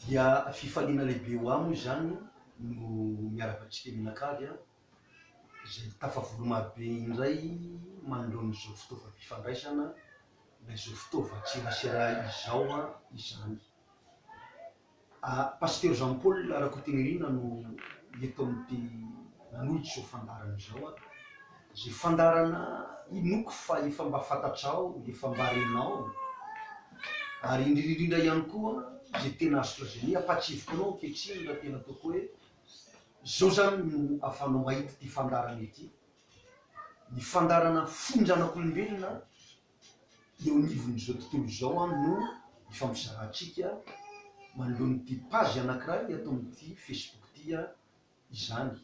Dia fifaliana lehibe ho ahy moa izany no miaraka amintsika mianakavy aho izay tafavory marobe indray manoloana izao fitaovam-pifandraisana na izao fitaovan-tserasera izao izany. Pasitera Jean Paul Rakotonirina no eto amin'ity nanohitra izao fandaharana izao aho. Izay fandaharana inoako fa efa mba fantatrao, efa mba renao. Ary indrindra indrindra ihany koa izay tena azo lazaina hoe ampahatsieviko anao ankehitriny raha tena ataoko hoe izao izany no ahafahanao mahita ity fandaharana ity. Ny fandaharana fonjanak'olombelona eo anivon'izao tontolo izao an no ifampizarantsika manoloana an'ity page anankiray eto amin'ity Facebook ity an izany.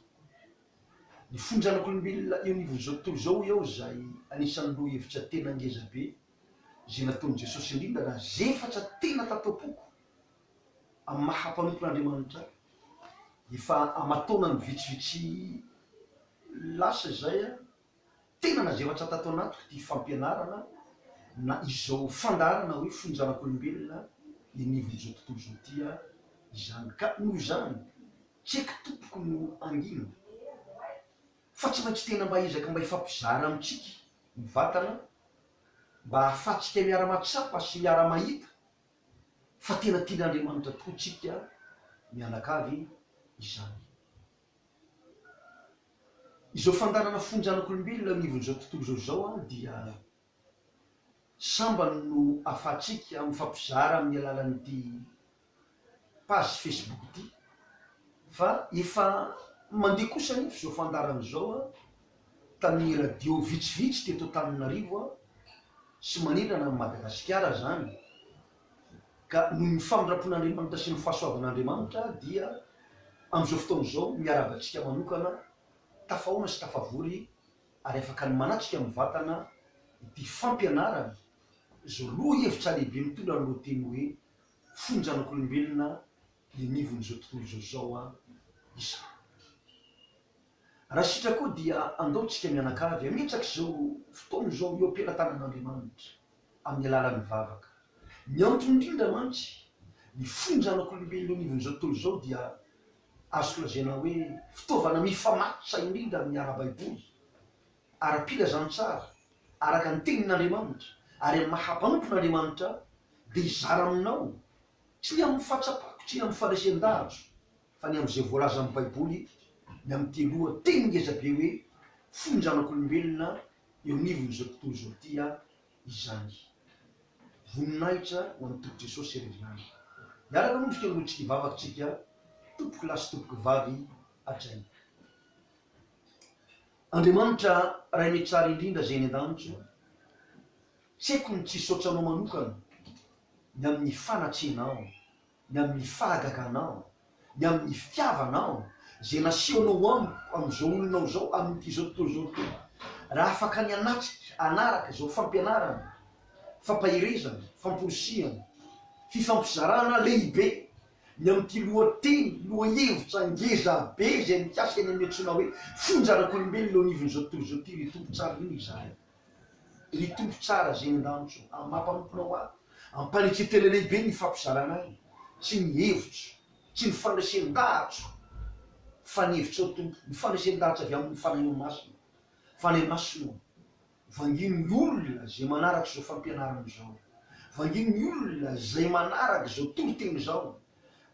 Ny fony zanak'olombelona eo anivon'izao tontolo izao hoy aho izay anisan'ny lohahevitra tena ngeza be izay nataon'i Jesosy indrindra raha zefatra tena tato am-poko amin'ny maha mpanompon'Andriamanitra ahy. Efa aman-taonany vitsivitsy lasa izay an. Tena nazelatra tato anatiko ity fampianarana na izao fandaharana hoe fony zanak'olombelona eny ivon'izao tontolo izao ity aho izany ka noho izany tsy aiko tompoko no hangina fa tsy maintsy tena mba ezaka mba hifampizara amintsika mivantana mba ahafahantsika miara-mahatsapa sy miara-mahita fa tena tian'Andriamanitra tokoa tsika mianakavy izany. Izao fandaharana fony zanak'olombelona eo anivon'izao tontolo izao izao dia sambany no ahafahantsika mifampizara amin'ny alalan'ity page Facebook ity fa efa mandeha kosa anefa izao fandaharana izao tamin'ny radio vitsivitsy teto Antananarivo sy manerana an'i Madagasikara izany. Ka noho ny famindram-pon'Andriamanitra sy ny fahasoavan'Andriamanitra dia amin'izao fotoana izao miarahaba antsika manokana tafahaona sy tafavory ary afaka ny manatrika mivatana ity fampianarana izao lohahevitra lehibe mitondra ny lohateny hoe Fon'ny Zanak'olombelona Eny Ivon'izao Tontolo Izao Izao izao. Raha sitraka koa dia andao tsika mianakavy hametraka izao fotoana izao eo am-pelatanan'Andriamanitra amin'ny alalan'ny vavaka. Ny antony indrindra mantsy, ny fo ny zanak'olombelona eo anivon'izao tontolo izao dia azo lazaina hoe fitaovana mifamatotra indrindra amin'ny ara-baiboly, ara-pilazantsara, araka ny tenin'Andriamanitra, ary amin'ny maha mpanompon'Andriamanitra ahy dia hizara aminao, tsy ny amin'ny fahatsapako, tsy ny amin'ny faharesen-dahatro, Fa ny amin'izay voalazan'ny Baiboly ny amin'ny te loha teny ngeza be hoe fo ny zanak'olombelona eo anivon'izao tontolo izao ity izany. Voninahitra ho an'ny Tompo Jesosy ery ihany. Miaraka aloha isika manohitra ity vavaka tsika tompoko lahy sy tompoko vavy hajaina. Andriamanitra Ray me tsara indrindra Zay eny an-danitra, tsy haiko ny tsy hisaotra Anao manokana ny amin'ny fanatrehanao ny amin'ny fahagaganao, ny amin'ny fitiavanao, izay nasehonao amiko amin'izao olonao izao, amin'ity izao tontolo izao ity. Raha afaka ny hanatrika, hanaraka izao fampianarana, fampaherezana, famporisihana, fifampizarana lehibe ny amin'ity lohateny, lohahevitra ngeza be izay mikasa eny amin'ny antsoina hoe fonja arak'olombelona eo anivon'izao tontolo izao ity, ry Tompo, tsara indrindra izahay. Ry Tompo tsara izay andanitso amin'ny maha mpanomponao ahy, ampanetseho tena lehibe ny hifampizarana ahy sy ny hevitro sy ny fandraisendahatro fa ny hevitrao Tompo ny fandraisendahatro avy amin'ny Fanahinao Masina Fanahy Masina ô vangino ny olona izay manaraka izao fampianarana izao vangino ny olona izay manaraka izao toriteny izao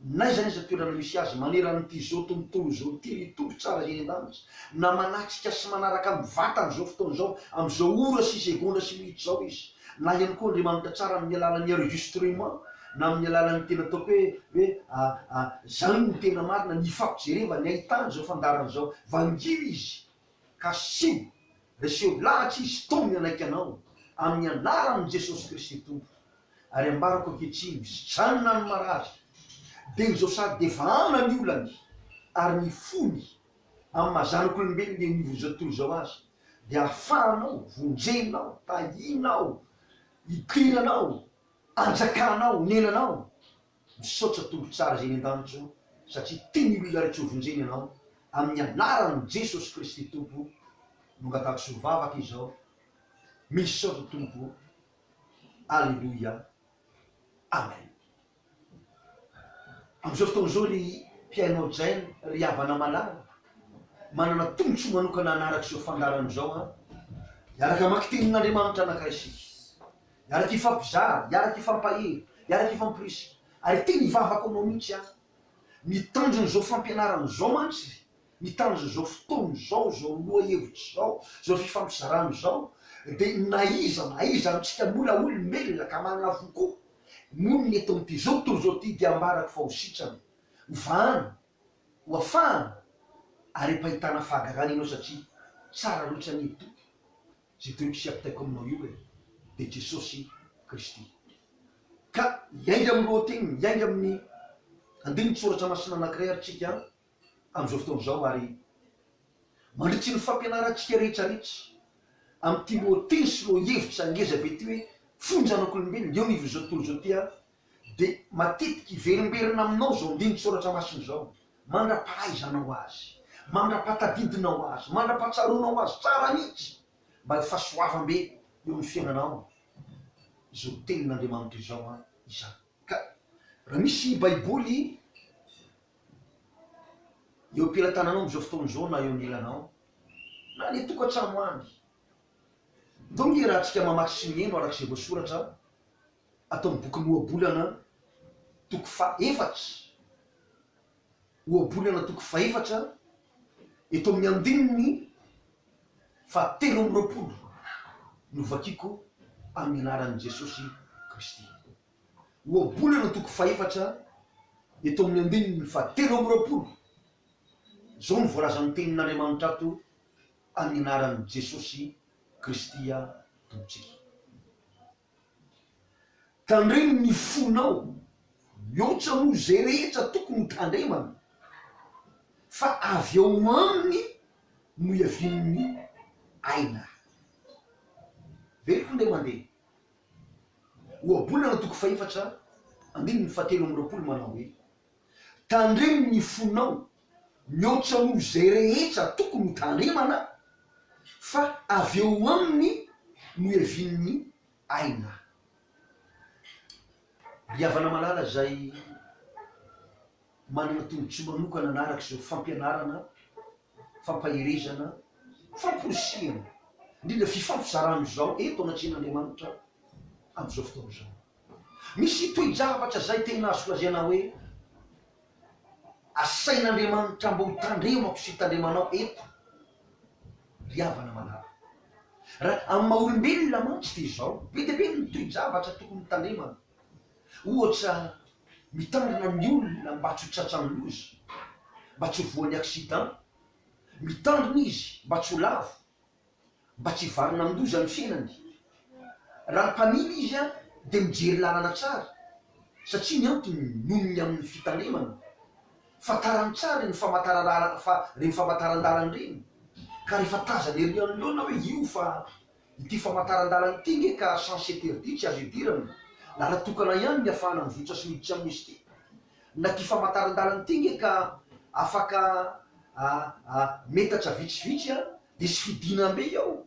N'aiza n'aiza toerana misy azy maneran'ity zo tontolo zo ity ny Tompo tsara eny an-danitra na manatrika sy manaraka ny vatany zao fotoana zao am'izao ora sy segondra sy minitra zao izy na ihany koa Andriamanitra tsara amin'ny alalan'ny enregistrement na amin'ny alalan'ny tena ataoko hoe hoe a a zany no tena marina ny ifampijerevany ahitany zao fandaharana zao vangio izy ka asio reseho lahatra izy tony hanaiky anao amin'ny anaran'i Jesosy Kristy Tompo. Ary ambarako ankehitriny, mijanona ny marary, dia izao sady dia efa ana ny olany, ary ny fony amin'ny maha zanak'olombelona eo anivon'izao tontolo izao azy, dia ahafahanao, vonjenao, tahianao, idiranao, anjakanao, onenanao. Misaotra Tompo tsara izay eny an-danitra o, satria tia ny olona rehetra hovonjeny Ianao, amin'ny anaran'i Jesosy Kristy Tompo no angatahako sy ho vavaka izao. Misaotra Tompo o. Aleloia Amen Amin'izao fotoana izao ry mpihaino Jen ry havana malala manana tombontsoa manokana hanaraka izao fandaharana izao an Hiaraka hamaky tenin'Andriamanitra anankiray isika Hiaraka hifampizara, hiaraka hifampahery, hiaraka hifampirisika Ary tena ivavako aminao mihitsy aho Ny tanjon'izao fampianarana izao mantsy Ny tarza izao fotoana izao, izao lohahevitra izao, izao fifampizarana izao dia na iza na iza amintsika mbola olombelona ka manana fo koa, monina eto amin'ity izao tontolo izao ity dia ambarako fa ho sitrana, ho vahana, ho afahana ary ampahitana fahagarana ianao satria tsara loatra anie i Tompo izay tokony hiapitaiko aminao io e, dia Jesosy Kristy. Ka hiainga amin'ny lohateny, hiainga amin'ny andinin-tsoratra masina anankiray ary tsika an! Amin'izao fotoana izao ary mandritry ny fampianarantsika rehetra rehetra amin'ity lohateny sy lohahevitra ngeza be ity hoe Fony Zanak'olombelona eo anivon'izao tontolo izao ity aho dia matetika hiverimberina aminao izao andinin-tSoratra Masina izao mandra-pahaizanao azy, mandra-pahatadidinao azy, mandra-pahatsaroanao azy tsara mihitsy mba ho fahasoavam-be eo amin'ny fiainanao izao tenin'Andriamanitra izao izany. Ka raha misy Baiboly eo am-pelatananao amin'izao fotoana izao na eo anilanao, na any an-tokantrano any. Ndao hiarahantsika mamaky sy mihaino araka izay voasoratra ato amin'ny bokin'ny Ohabolana toko faha efatra. Ohabolana toko faha efatra, eto amin'ny andininy faha telo amby roapolo no vakiko amin'ny anaran'i Jesosy Kristy. ohabolana toko fahefatra eto amin'ny andininy fahatelo amby roapolo. Izao no voalazan'ny Tenin'Andriamanitra ato amin'ny anaran'i Jesosy Kristy Tompontsika. Tandremo ny fonao, mihoatra noho izay rehetra tokony ho tandremana, fa avy ao aminy no iavian'ny aina. Veloko ndeha mandeha. Ohabolana toko fahefatra andininy fahatelo amby roapolo manao hoe, Tandremo ny fonao mihoatra noho izay rehetra tokony ho tandremana, fa avy eo aminy no hiavian'ny aina. Ry havana malala izay manana tombontsoa manokana hanaraka izao fampianarana fampaherezana, famporisihana, indrindra fifampizarana izao eto anatrehan'Andriamanitra amin'izao fotoana izao. Misy toe-javatra izay tena azo lazaina hoe asain'Andriamanitra mba ho tandremako sy tandremanao eto ry havana manara. Raha amin'ny maha olombelona mantsy dia izao, be dia be ny toe-javatra tokony ho tandremana. Ohatra, mitandrina ny olona mba tsy ho tratran'ny loza, mba tsy ho voan'ny accident, mitandrina izy mba tsy ho lavo, mba tsy hivarina amin-doza ny fiainany. Raha mpamily izy dia mijery lalana tsara satria ny antony noho ny amin'ny fitandremana. Fantarany tsara ireny famantaran-dalana ireny ka rehefa tazana ery anoloana hoe io fa Ity famantaran-dalana ity nge ka sens interdit tsy azo idirana, lala tokana ihany ny afahana mivoitra sy miditra amin'izy ity. Na ty famantaran-dalana ity nge ka afaka metatra vitsivitsy a, dia tsy fidinam-be ao,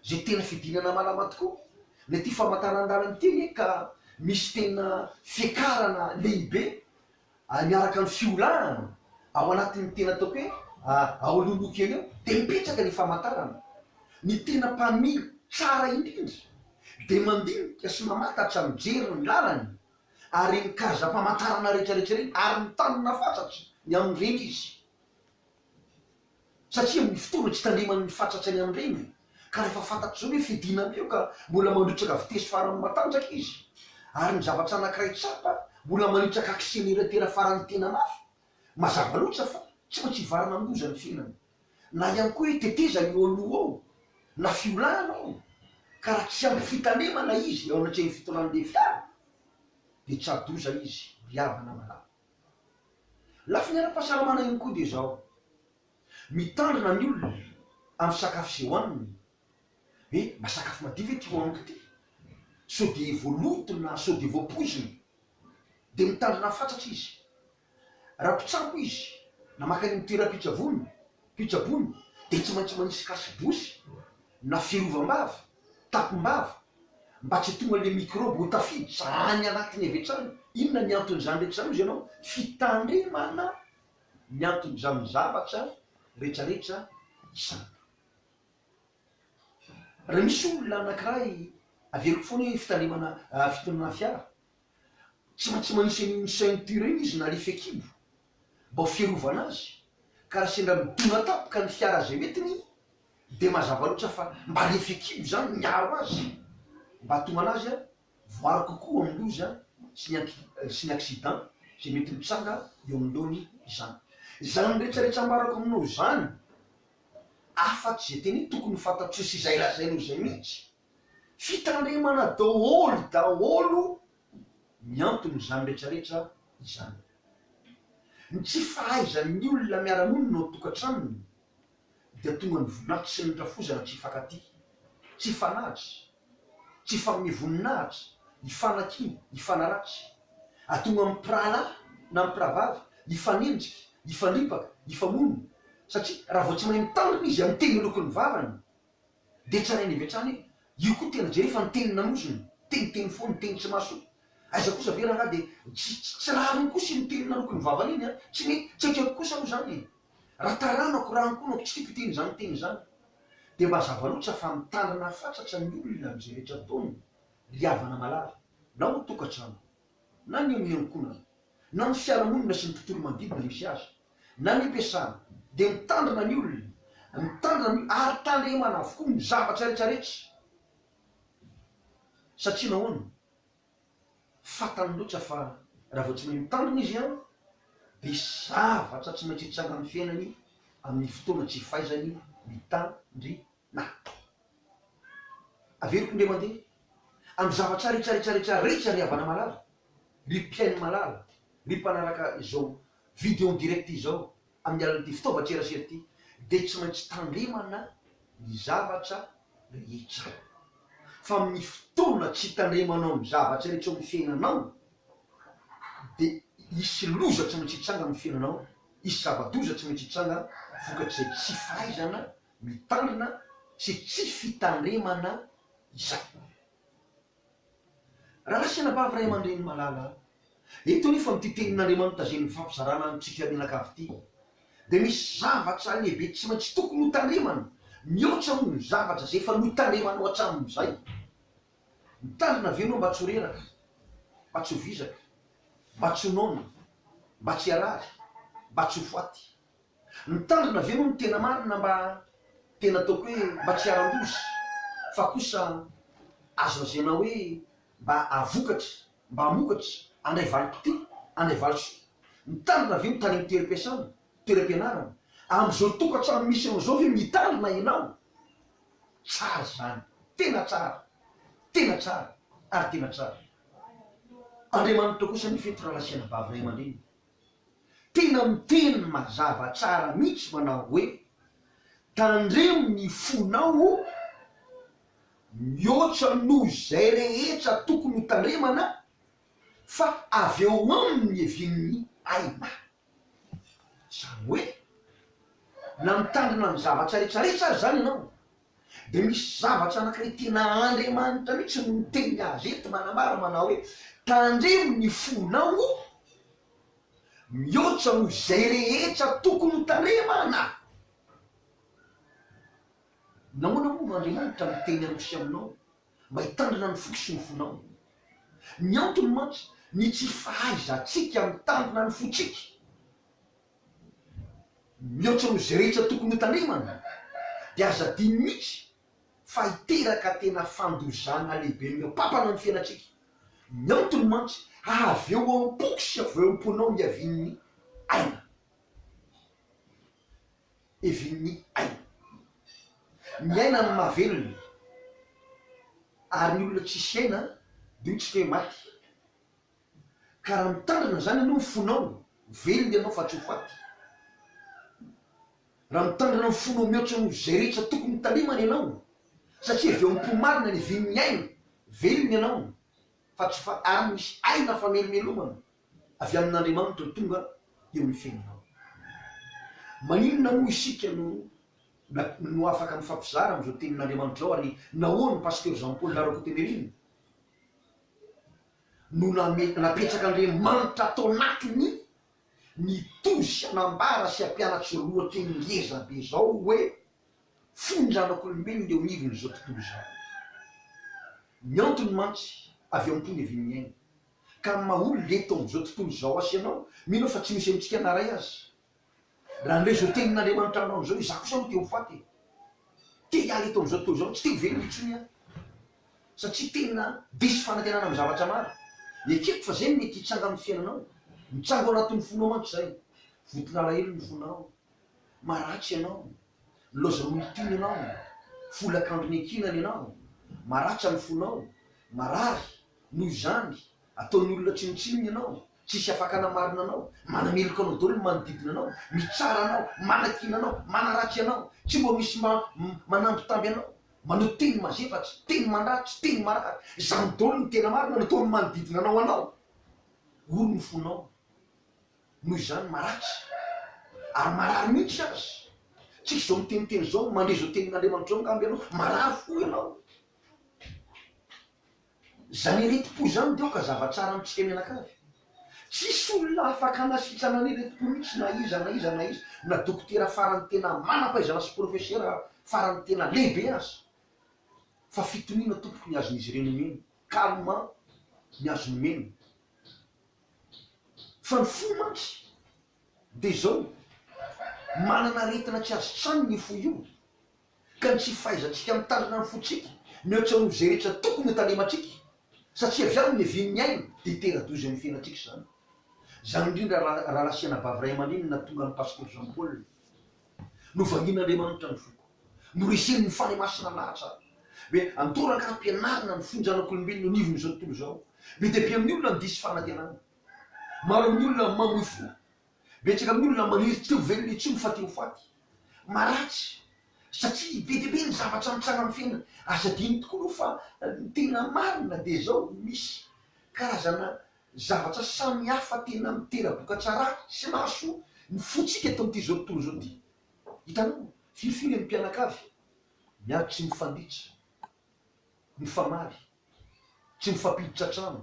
zay tena fidinana malama tokoa. Na ity famantaran-dalana ity nge ka misy tena fiakarana lehibe ary miaraka amin'ny fiolahana ao anatin'ny tena ataoko hoe ao alohaloha kely eo dia mipetraka ny famantarana. Ny tena mpamily tsara indrindra dia mandinika sy mamantatra mijery ny lalany ary ny karazam-pamantarana rehetrarehetra ireny ary mitanona fatratra ny amin'ireny izy. Satria amin'ny fotoana hitandremany ny fatratrany amin'ireny, ka rehefa fantatry izao hoe fidinana eo ka mbola mandrotsaka vitesy faran'ny matanjaka izy, ary ny zavatra anankiray tsapa, mbola manitraka akseleratera faran'ny tena mafy, mazava loatra fa tsy maintsy hivarina amin-doza ny fiainany. Na ihany koa hoe tetezana eo aloha ao, na fiolahana ao, ka raha tsy ampy fitandremana izy eo anatrehan'ny fitondran'ilay fiara, dia tsa-doza izy, ry havana malala. Lafiny ara-pahasalamana ihany koa dia izao, mitandrina ny olona amin'ny sakafo izay hohaniny, hoe mba sakafo madio ve ity hohaniko ity? Sao dia voaloto na sao dia voapoizina? Dia mitandrina fatratra izy. Raha mpitsabo izy na mankany amin'ny toeram-pitsaboana Fitsaboana dia tsy maintsy manisy kasibosy na fiarovam-bava, tapim-bava, mba tsy tonga le mikrôby ho tafiditra any anatiny avy hatrany. Inona ny anton'izany rehetra izany hozy ianao? Fitandremana ny anton'izany zavatra retraretra izany. Raha misy olona anakiray, averiko foana hoe fitandremana fitonana fiara, Tsa tsy manisy an'iny ceinture iny izy na le fekibo mbao fiarovana azy ka ra sendra midona tampoka ny fiara zay entiny de mazava loatra fa mba le fekibo zany miaro azy mba atomana azy a voaro kokoa amin'ny loza sy ny anki sy ny accident zay mety mitsanga eo anoloany izany. Zany rehetra rehetra ambarako aminao zany afatsy zay teny tokony ho fantatr'io sy zay lazainao zay mihitsy. Fitandremana daholo daholo ny anton'izany rehetra rehetra izany. Ny tsy fahaizan'ny olona miara-monina ao an-tokantranony dia tonga ny voninahitra sy ny rafozana tsy hifankatia, tsy hifanahatra, tsy hifanome voninahitra, hifanakiana, hifanaratsy, hahatonga ny mpirahalahy na ny mpirahavavy hifanenjika, hifandripaka, hifamono, satria raha vao tsy mahay mitandrina izy amin'ny teny aloaky ny vavany, Dia tranainy avy hatrany hoe, io koa tena jereo fa ny teny nanozony, teniteny foana, ny teny tsy mahasoa. Aiza kosa ve rangahy dia tsy tsy rariny kosa iny teny naloky ny vavany iny an! Tsy mety, tsy akeko kosa aloha izany e! Raha taranako, raha ankohonako tsy tiako hiteny izany teny izany. Dia mba zava loatra fa mitandrina fatratra ny olona amin'izay rehetra ataony ry havana malala, na ho tokantrano, na ny eo amin'ny ankohonana, na ny fiarahamonina sy ny tontolo manodidina misy azy, na ny am-piasana, dia mitandrina ny olona, mitandrina ny ary tandremana avokoa ny zavatra rehetra rehetra. Satria nahoana? Fantany loatra fa raha vao tsy mahay mitandrina izy an, dia zavatra tsy maintsy hitsangan'ny fiainany amin'ny fotoana tsy fahaizany mitandrina. natao. Averiko ndry mandeha amin'ny zavatra ritsaritsaritsara rehetra ry havana malala, ry mpihaino malala, ry mpanaraka izao video en direct izao amin'ny alalan'ity fitaovan-tserasera ity dia tsy maintsy tandremana ny zavatra rehetra fa amin'ny fotoana tsy hitandremanao ny zavatra rehetra eo amin'ny fiainanao dia hisy loza tsy maintsy hitranga amin'ny fiainanao, hisy zava-doza tsy maintsy hitranga vokatr'izay tsy fahaizana mitandrina sy tsy fitandremana izay. Ralasina Bavy Ray aman-dReny malala a! Eto anefa amin'ity Tenin'Andriamanitra izay nifampizarana amintsika mianakavy ity dia misy zavatra lehibe tsy maintsy tokony ho tandremana, mihoatra moa ny zavatra izay efa notandremanao hatramin'izay. Mitandrina ve ianao mba tsy ho reraka, mba tsy ho vizaka, mba tsy ho noana, mba tsy harary, mba tsy ho faty? Mitandrina ve moa ny tena marina mba tena ataoko hoe mba tsy haran-doza fa kosa azo lazaina hoe mba havokatra, mba hamokatra handray valim-potoana, handray valisoa? Mitandrina ve ny tany amin'ny toeram-piasana, toeram-pianarana? Amin'izao tokantrano misy anao izao ve mitandrina ianao? Tsara izany, tena tsara, tena tsara ary tena tsara. Andriamanitra kosa ny fety raha lasiana bavy ray aman-dreny. tena miteny mazava tsara mihitsy manao hoe, tandremo ny fonao o! mihoatra noho izay rehetra tokony ho tandremana fa avy eo aminy ny hevin'ny aina. Izany hoe, na mitandrina ny zavatra rehetra rehetra aza izany ianao, Dia misy zavatra anankiray tena Andriamanitra mihitsy no miteny azy eto manambara manao hoe, Tandremo ny fonao o! Mihoatra noho izay rehetra tokony ho tandremana! Nahoana moa no Andriamanitra miteny amiko sy aminao mba hitandrina ny foko sy ny fonao? Ny antony mantsy, ny tsy fahaizantsika mitandrina ny fontsika. Mihoatra noho izay rehetra tokony hotandremana, dia aza adino mihitsy fa hiteraka tena fandozana lehibe amin'ireo mpampana ny fiainantsika. Ny antony mantsy, avy eo am-poko sy avy eo am-ponao ny havian'ny aina. Hevin'ny aina. Miaina ny mahavelona, ary ny olona tsisy aina dia hoy tsika hoe maty. Ka raha mitandrina izany ianao ny fonao, velona ianao fa tsy ho faty. Raha mitandrina ny fonao mihoatra noho izay rehetra tokony hitalemana ianao, satria avy ao am-po marina ny vinin'ny aina, velona ianao fa tsy ho faty, ary misy aina famelomelomana avy amin'Andriamanitra no tonga eo amin'ny fiainanao. Maninona moa isika no no afaka mifampizara amin'izao tenin'Andriamanitra izao ary nahoana ny Pasteur Jean Paul Larocotemerine? no napetraka Andriamanitra tao anatiny, nitory sy hanambara sy hampianatry lohateny ngeza be izao hoe, fony ny zanak'olombelona eo anivon'izao tontolo izao. Ny antony mantsy avy amim-po ny havian'ny aina, ka amin'ny maha olona eto amin'izao tontolo izao asa ianao, mino aho fa tsy misy amintsika na iray aza Raha an'ireo izao tenin'Andriamanitra aminao izao, izaho kosa moa te ho faty e! Te hiala eto amin'izao tontolo izao, tsy te ho velona intsony aho. Satria tena diso fanantenana amin'ny zavatra maro. Ekeko fa izay no mety hitranga amin'ny fiainanao. Mitsango ao anatin'ny fonao mantsy izay. Voton'alahelo ny fonao. Maratra ianao. Nilaozan'ny olon-tiana ianao. Vola an-kandriny ankinany ianao. Maratra ny fonao. Marary, noho izany, ataon'ny olona tsinontsinona ianao. Tsisy afaka hanamarina anao, manameloka anao daholo ny manodidina anao, mitsara anao, manakiana anao, manaratsy anao, tsy mba misy mba manambitamby anao, manao teny mazevatry, teny mandratra, teny marary, izany daholo no tena marina nataon'ny manodidina anao anao, ory ny fonao noho izany maratsy ary marary mihitsy aza, tsisy izao miteniteny izao, mandre izao tenin'Andriamanitra izao angamba ianao, marary fo ianao. Izany iretim-po izany dia aoka zava-tsara amintsika mianakavy. Tsisy olona afaka hanasitrana an'iretim-po mihitsy na iza na iza na iza, na dokotera farany tena manam-pahaizana sy profesera farany tena lehibe aza. Fa fitoniana tompoko ny azon'izy ireny omena, calmant ny azony omena. Fa ny fo mantsy dia izao, manana aretina tsy azo tsaniny io fo io. ka ny tsy fahaizantsika mitandrina ny fontsika mihoatra noho izay rehetra tokony ho talemantsika, satria avy aminy ihaviany ny aina, dia tena doza eo amin'ny fiainantsika izany. Izany indrindra rahalahy sy anabavy ray aman-dreny no nahatonga an'i Pasteur Jean Paul hoe, Novangian'Andriamanitra ny foko. Noreseny ny Fanahy Masina lahatra hoe andao rangaha ampianarina ny fony zanak'olombelona eo anivon'izao tontolo izao. Be dia be amin'ny olona no diso fanantenana. Maro amin'ny olona mamoy fo. Betsaka amin'ny olona maniry tsy ho velona intsony fa te ho faty. Maharatsy, satria be dia be ny zavatra mitsanga amin'ny fiainana. Aza adino tokoa aloha fa ny tena marina dia izao, misy karazana zavatra samy hafa tena mitera-bokatra ratsy sy mahasoa ny fontsika eto amin'ity izao tontolo izao ity. Hitanao, firy firy ny mpianakavy miady tsy mifanditra, mifamaly, tsy mifampiditra trano,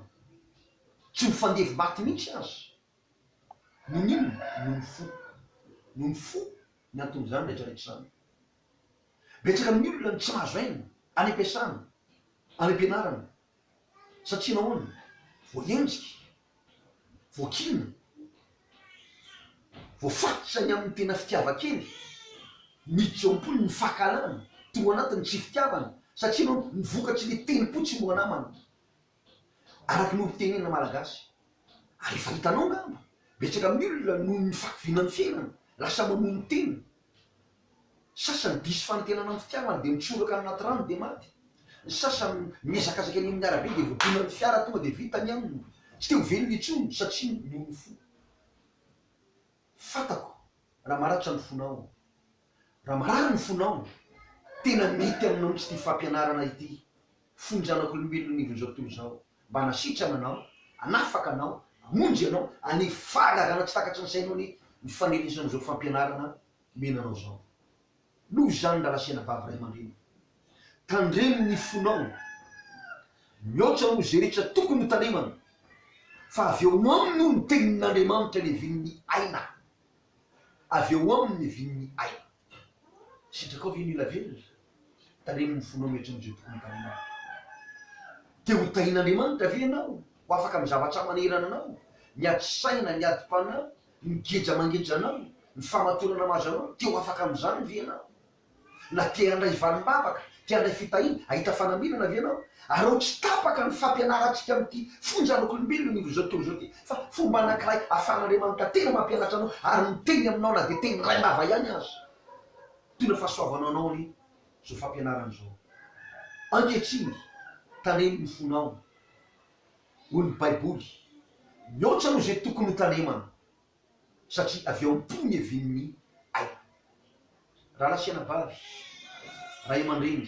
tsy mifandevi-maty mihitsy aza. Nony inona? Nony fo. Nony fo ny anton'izany rehetrarehetra izany. Betsaka amin'ny olona no tsy mahazo aina any am-piasana, any am-pianarana. Satria nahoana? Voaenjika, voakiana, voafatitra ny amin'ny tena fitiavan-kely, miditra eo am-pony ny fankahalana, tonga ao anatiny ny tsy fitiavana. Satria nahoana? Ny vokatry ny telom-po tsy mora namana. Araka ny olom-pitenenana malagasy. Ary efa hitanao angamba, betsaka amin'ny olona noho ny fahakiviana ny fiainana, lasa mamoa ny tena. Sasany diso fanantenana amin'ny fitiavana dia mitsoraka any anaty rano dia maty. Ny sasany mihazakazaka eny amin'ny arabe dia voadonan'ny fiara tonga dia vita ny aminy. Tsy te ho velona intsony satria noho ny fo. Fantako raha maratra ny fonao. Raha marary ny fonao, tena mety aminao mihitsy ity fampianarana ity, Fony zanak'olombelona anivon'izao tontolo izao, mba hanasitrana anao, hanafaka anao, hamonjy anao, any fahagarana tsy takatry ny sainao anie ny faneresan'izao fampianarana omena anao izao. Noho izany ry Ralasenabavy ray aman-dreny, tandremo ny fonao, mihaotra noho izay rehetra tokony ho tandremana, fa avy ao aminy hono ny tenin'Andriamanitra levin'ny aina Avy eo aminy ny vin'ny aina. Sitrakao ve ny ela velona? Taremo ny fonao mihoatra ny joboky ny taninao. Te ho tahin'Andriamanitra ve ianao, ho afaka amin'ny zavatra manerana anao, ny ady saina, ny adim-panahy, ny geja mangeja anao, ny famatorana mahazo anao, te ho afaka amin'izany ve ianao? Na te handray valim-bavaka, te handray fitahiana, hahita fanamirana ve ianao? Aleo tsy tapaka ny fampianarantsika amin'ity fonja an'okolombelona ny izao tontolo izao ity, fa fomba anankiray ahafahan'Andriamanitra tena mampianatra anao ary miteny aminao na dia teny iray lava ihany aza. Tena fahasoavanao anao anie izao fampianarana izao. Ankehitriny, talemy ny fonao, hoy ny Baiboly. Mihoatra noho izay tokony hotalemana. satria avy ao am-po ny hevin'ny aina. Rahalahy sy anabavy, ray aman-dreny,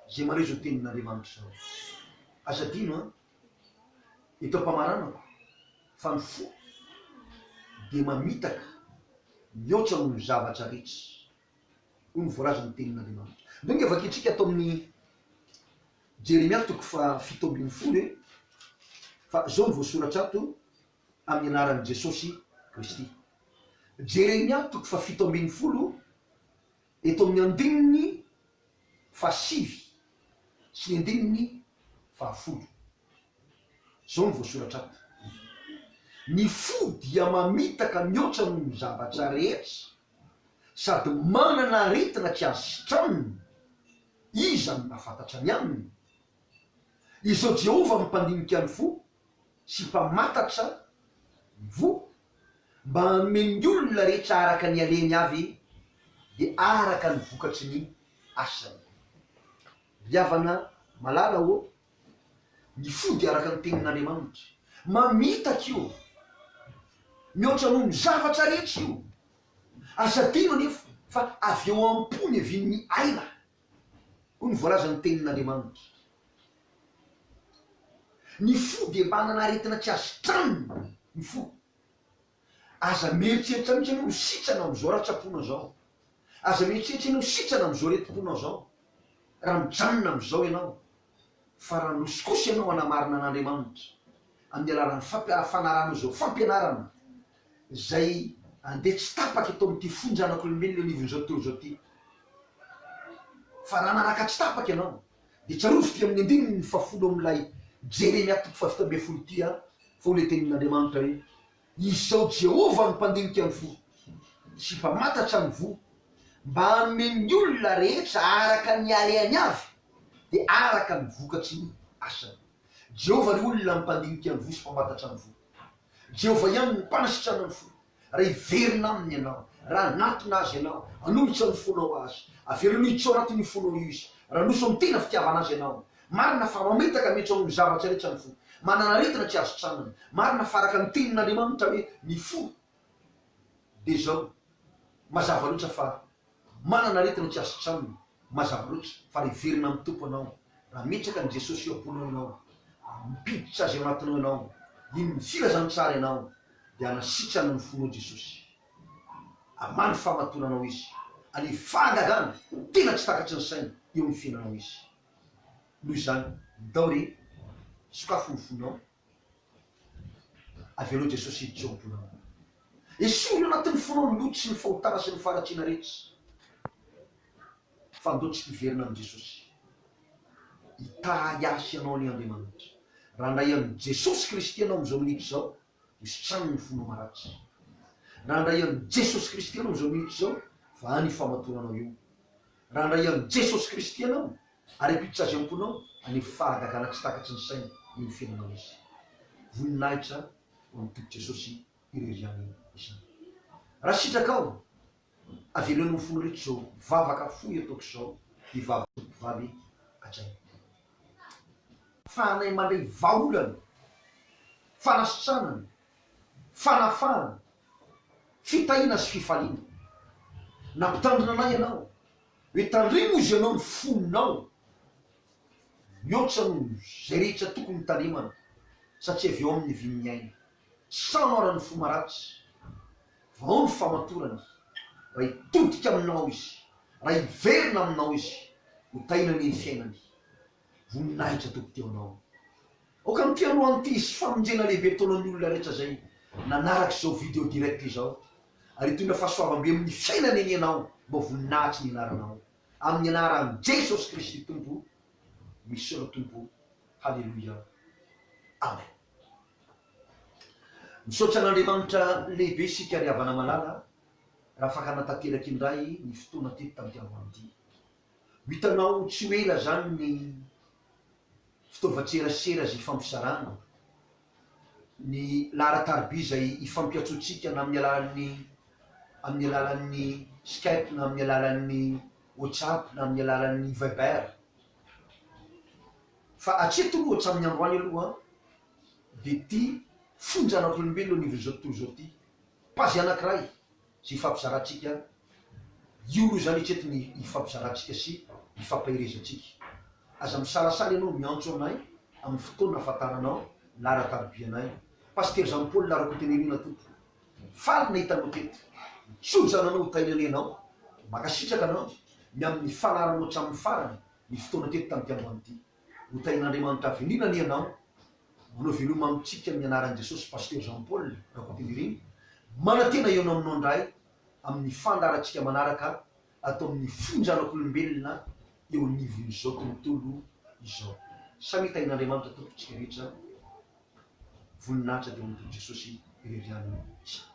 izay mandray izao tenin'Andriamanitra izao, aza adino an! Eto am-pamaranako fa ny fo dia mamitaka mihoatra noho ny zavatra rehetra, hoy ny voalazan'ny tenin'Andriamanitra. Indao anie vakintsika ato amin'ny Jeremia toko fahafito ambin'ny folo e, fa izao no voasoratra ato, amin'ny anaran'i Jesosy Kristy. Jeremia toko fahafito ambin'ny folo eto amin'ny andininy fahasivy sy ny andininy fahafolo. Izao no voasoratra ato, Ny fo dia mamitaka mihoatra noho ny zavatra rehetra sady manana aretina tsy azo sitranina, iza no mahafantatra ny aminy? Izao Jehovah no mpandinika ny fo, sy mpamatatra ny voa mba hanome ny olona rehetra araka ny alehany avy dia araka ny vokatry ny asany. Ry havana malala ô, ny fo dia araka ny tenin'Andriamanitra. Mamitaka io. Mihoatra noho ny zavatra rehetra io. Aza adino anefa fa avy ao am-po niavian'ny aina Hoy ny voalazan'ny Tenin'Andriamanitra, Ny fo dia manana aretina tsy azo tranona ny fo. Aza mieritreritra mihitsy ianao ho sitrana amin'izao ratsa-ponao izao. Aza mieritreritra ianao ho sitrana amin'izao aretim-ponao izao, raha mijanona amin'izao ianao. fa raha miroso kosa ianao hanamarina an'Andriamanitra amin'ny alalan'ny fampianaranao izao fampianarana izay andeha tsy tapaka eto amin'ity fony zanak'olombelona eo anivon'izao tontolo izao ity. Fa raha nanaraka tsy tapaka ianao, dia tsarovy ity amin'ny andininy fahafolo amin'ilay Jeremia toko fahavita ambin'ny folo ity an, fa hoy ilay tenin'Andriamanitra hoe. Izao Jehovah no mpandinika ny fo, sy mpamantatsa ny voa, mba hanome ny olona rehetra araka ny halehany avy, dia araka ny vokatry ny asany. Jehovah ry olona no mpandinika ny voa sy mpamantatsa ny voa. Jehovah ihany no mpanasitrana ny fo. Raha hiverina aminy ianao, raha hanatona azy ianao, hanolotra ny fonao azy, avelao hijotso ao anatin'io fonao io izy, raha hanoso amin'ny tena fitiavana azy ianao, Marina fa mamitaka mihitsy ao amin'ny zavatra rehetra ny fo. Manana aretina tsy azo tsanona. Marina fa araka ny tenin'Andriamanitra hoe ny fo dia izao. Mazava loatra fa manana aretina tsy azo tsanona. Mazava loatra fa hiverina amin'ny Tompo ianao raha ametraka an'i Jesosy eo am-ponao ianao, ampiditra Azy ao anatinao ianao, hino ny filazantsara ianao, dia hanasitrana ny fonao Jesosy. Hamaly fahamatonanao Izy. Halefa hagagana tena tsy takatry ny saina eo amin'ny fiainanao Izy. Noho izany, ndao re, sokafy ny fonao. Avelao Jesosy hiditra ao am-ponao. Esory ao anatin'ny fonao ny loto sy ny fahotana sy ny faharatsiana rehetra. Fa ndao tsy hiverina amin'i Jesosy. Hitahy hasy anao anie Andriamanitra. Raha ndray an'i Jesosy Kristy ianao amin'izao minitra izao, Misy trano ny fonao maratra. Raha handray an'i Jesosy Kristy ianao izao minitra izao, fa any ifamatonanao io. Raha handray an'i Jesosy Kristy ianao, ary ampiditra Azy am-ponao, any amin'ny fahagagana tsy takatry ny saina eo ny fiainanao Izy. Voninahitra ho an'ny Tompo Jesosy irery ihany izany. Raha sitrakao Avelao ny ho folo reto zao vavaka fohy ataoko zao de vavaka fohy mpivady hatrany fa anay mandray vahaolana, fanasitranana, fanafahana, fitahiana sy fifaliana. Nampitandrina anay ianao hoe tandremo izy ianao ny fonao mihoatra noho izay rehetra tokony ho tandremana satria avy ao amin'ny vy ny aina. Samaran'ny fo maratsy, vao ny famatorany, raha hitodika aminao izy, raha hiverina aminao izy, ho tahiana anie ny fiainany. Voninahitra Tompo teo anao. Aoka amin'ity androany ity hisy famonjena lehibe ataonao ny olona rehetra izay nanaraka izao video direct izao, ary hitondra fahasoavam-be amin'ny fiainany anie ianao, mba voninahitsy ny anaranao. Amin'ny anaran'i Jesosy Kristy Tompo, misaona Tompo. Haleloia Amen Misaotra an'Andriamanitra lehibe isika ry havana malala a, raha afaka hanatanteraka indray ny fotoana teto tampiangoan'ity. Ho hitanao tsy ho ela izany ny fitaovan-tserasera izay ifampizarana, ny laharan-tariby izay ifampiantsoantsika na amin'ny alalan'ny amin'ny alalan'ny Skype na amin'ny alalan'ny WhatsApp na amin'ny alalan'ny Viber. Fa hatreto aloha, hatramin'ny androany aloha, dia ity fonja anan'olombelona anivon'izao tontolo izao ity, page anankiray izay hifampizarantsika, io aloha izany hatreto ny hifampizarantsika sy hifampaherezantsika. Aza misalasala ianao miantso anay amin'ny fotoana ahafantaranao laharan-tarobianay. Pasitera Jean Paul Rakotonirina Tompo. Faly nahita anao teto. Jojo ananao ho tahianay anao. Mankasitraka anao ny amin'ny fanaranao hatramin'ny farany ny fotoana teto tamin'ity androany ity. Ho tahian'Andriamanitra avy aniana anie ianao. Manao veloma amintsika amin'ny anaran'i Jesosy Pasteur Jean Paul Rakotonirina. Manantena ianao aminao indray amin'ny fandaharantsika manaraka ato amin'ny fonjanak'olombelona eo anivon'izao tontolo izao. Samy tahin'Andriamanitra Tompontsika rehetra voninahitra teo amin'ny Tompo Jesosy irery ihany isika.